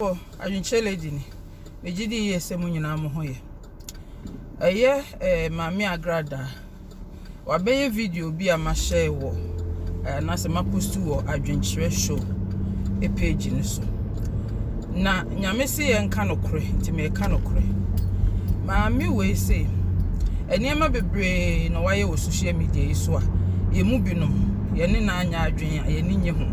Wɔ adwenkyerɛ lady ni, megye di yie sɛ mo nyinaa mo ho yɛ. Ɛyɛ eh, Maame Agradaa. Wabɛyɛ video bi a mahyɛ wɔ eh, anaasɛ mapost wɔ adwenkyerɛ show e page no so. Na nyame se yɛ nka nokorɛ, nti meka nokorɛ. Maame wei se, nneɛma bebree na wayɛ wɔ social media yi so a, yɛmu binom. yɛne no anyɛ adwene a yɛne nye ho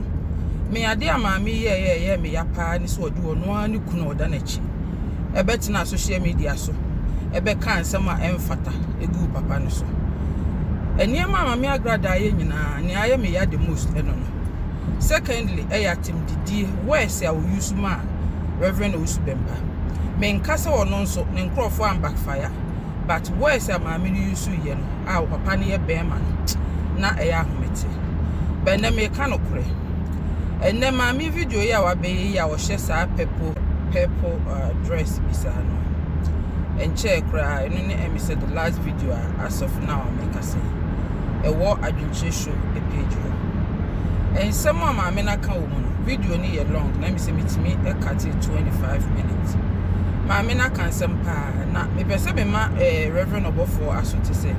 me ade a maame yi yɛɛ ɛyɛ me ya paa ne sɛ ɔde ɔno ara ne kunu a ɔda n'akyi ɛbɛtena social media so ɛbɛka nsɛm a ɛmfata ɛgu papa no so nneɛma a maame agrada ayɛ nyinaa nea ayɛ me ya the most ɛno no secondly ɛyɛ atemdidie words a ɔyi so ma a reverend ɔwusu bɛmpa menka sɛ ɔno nso ne nkurɔfoɔ ambackfire but words a maame no use yɛ no a papa no yɛ bɛrima no na ɛyɛ ahomete bɛ nnɛ meka no korɛ ɛnnɛ maame video yi a wabɛyɛ yi a ɔhyɛ saa purple purple uh, dress bi saa no ɛnkyɛɛ koraa ɛno ne ɛmi sɛ the last video a as of now meka sɛ ɛwɔ adwenkyerɛ show page hɔ nsɛm a maame no aka wɔ mu no video no yɛ long na ɛmi sɛ metumi ɛka te 25 minutes maame no aka nsɛm paa Na mepɛ sɛ mema eh, Reverend ɔbɔfoɔ aso te sɛ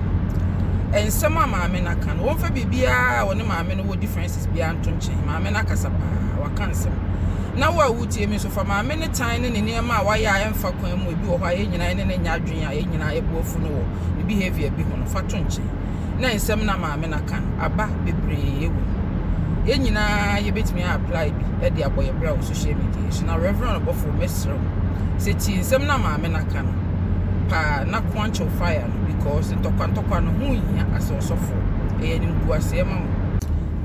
eh, nsɛm a maame no aka no, wɔmfa biribiara a wɔne maame no wɔ differences biara nto nkyɛn. Maame no akasa paa, waka nsɛm. Na wo a wotie me nso, fa maame no tan ne ne nneɛma a wayɛ a ɛmfa kwan mu, ebi wɔ hɔ a yɛn nyinaa ne ne nyɛ adwene a yɛn nyinaa yɛboafu no wɔ ne behavior bi ho no, fa to nkyɛn. na nsɛm na maame na ka no aba bebree wɔ mu yɛn nyinaa yɛbɛtumi a apply bi de abɔ yɛ bra wɔ social media so na reverend ɔbɔfoɔ mɛsrɛ wo sɛ tie nsɛm na maame na ka no paa na quench your fire no because ntɔkwantɔkwa no ho hia asɛ ɔsɔfoɔ ɛyɛ animguaseɛ ma wo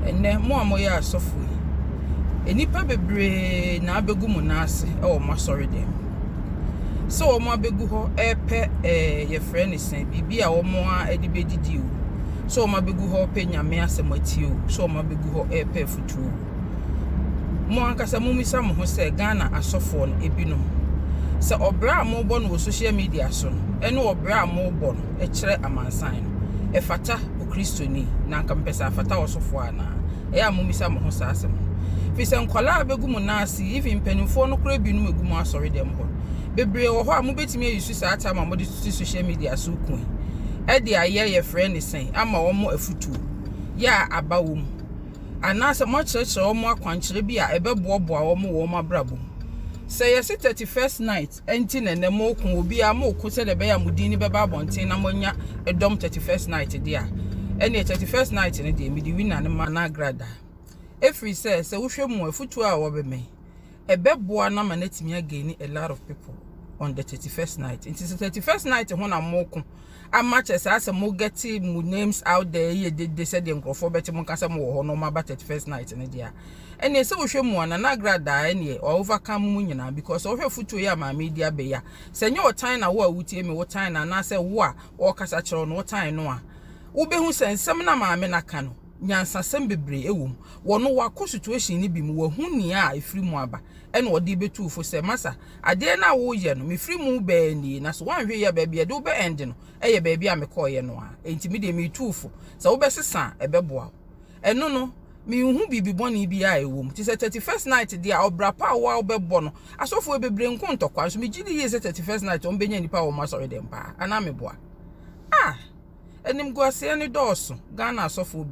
ɛnɛ mo a moyɛ asɔfoɔ yi nnipa bebree na abɛgu mo nan ase wɔ mo asɔre dɛm sɛ wɔn abɛgu hɔ repɛ ɛɛ yɛfrɛ ne sɛ biribi a wɔn a de bɛdidi o sɛ wɔn abɛgu hɔ repɛ nyame asɛm atie o sɛ wɔn abɛgu hɔ repɛ afutuo o mo ankasa mo misa mo ho sɛ ghana asɔfoɔ no ebinom sɛ ɔbrɛ a mobɔ no wɔ social media so no ɛne ɔbrɛ a mobɔ no ɛkyerɛ amansan no ɛfata okristoni na nka mpɛ sɛ afata ɔsɔfoɔ anaa ɛyɛ a mumisa mo ho saa asɛm no. Ɛfiri sɛ nkwadaa bɛgu mo nan ase, even mpanimfoɔ no koraa binom ɛgu mo asɔredɛm hɔ. Bebree wɔ hɔ a mobɛtumi ayi so saa tam a mode tutu social media so ko yi ɛde ayɛ yɛfrɛ ne sɛn ama wɔn afutuo yɛ a aba wɔ mu anaasɛ moakyerɛkyerɛ wɔn akwankyerɛ bi a ɛbɛboaboa wɔn wɔ wɔn abrabɔ mu. Sɛ yɛse 31st night. Enti na ɛnnɛ moreko, obiara moreko sɛdeɛ ɛbɛyɛ a mo din no bɛba abɔnten na moanya dɔm thirty first night deɛ a, ɛnneɛ thirty first night no deɛ mede winner no ma no agrada. Ɛfiri sɛ, sɛ wohwɛ mu a, afutuo a ɔbɛ me, ɛbɛboa no ama no atumi againi a lot of people on the thirty first night. Nti sɛ thirty first night ho na moreko ama kyerɛ saa sɛ mo gɛte mo names out there yɛ dede sɛdeɛ nkurɔfoɔ bɛte mo nka sɛ mo wɔ hɔ na wɔn aba thirty first night no deɛ a ɛneɛ sɛ wohwɛ mu a nana agradaa ɛneɛ ɔ overcome mo nyinaa because ɔhwɛ futuo yi a maame yi de abɛ yi a sɛ nyɛ ɔtan na wo a wotie me wotan no anaasɛ wo a ɔrekasa kyerɛ wo no wotan no a wobɛhu sɛ nsɛm na maame no aka no nyansasɛm bebree wɔ mu. Wɔ no wakɔ situation no bi mu, wahu nea a ɛfiri mu aba ɛna ɔde bɛtu wo fo sɛ, Masa, adeɛ no a woreyɛ no, mefiri mu bɛɛ nie na sɛ woanhwɛ yie a baabi a yɛde wo bɛ end no yɛ baabi a mekɔeɛ no ara enti me deɛ meretu wo fo sɛ wobɛsesa a ɛbɛboa wo. Ɛno no, menhu biribi bɔne biara a ɛwɔ mu. Te sɛ thirty first night deɛ a, ɔbra pa a wo ara wobɛbɔ no, asɔfoɔ yi bebree nko ntɔkwa nso megye di yie sɛ thirty first night wɔbɛnya nnipa wɔ wɔn asɔredɛm paa anaa meboa? Ah! Animguaseɛ no dɔɔso, Ghana asɔfoɔ bi.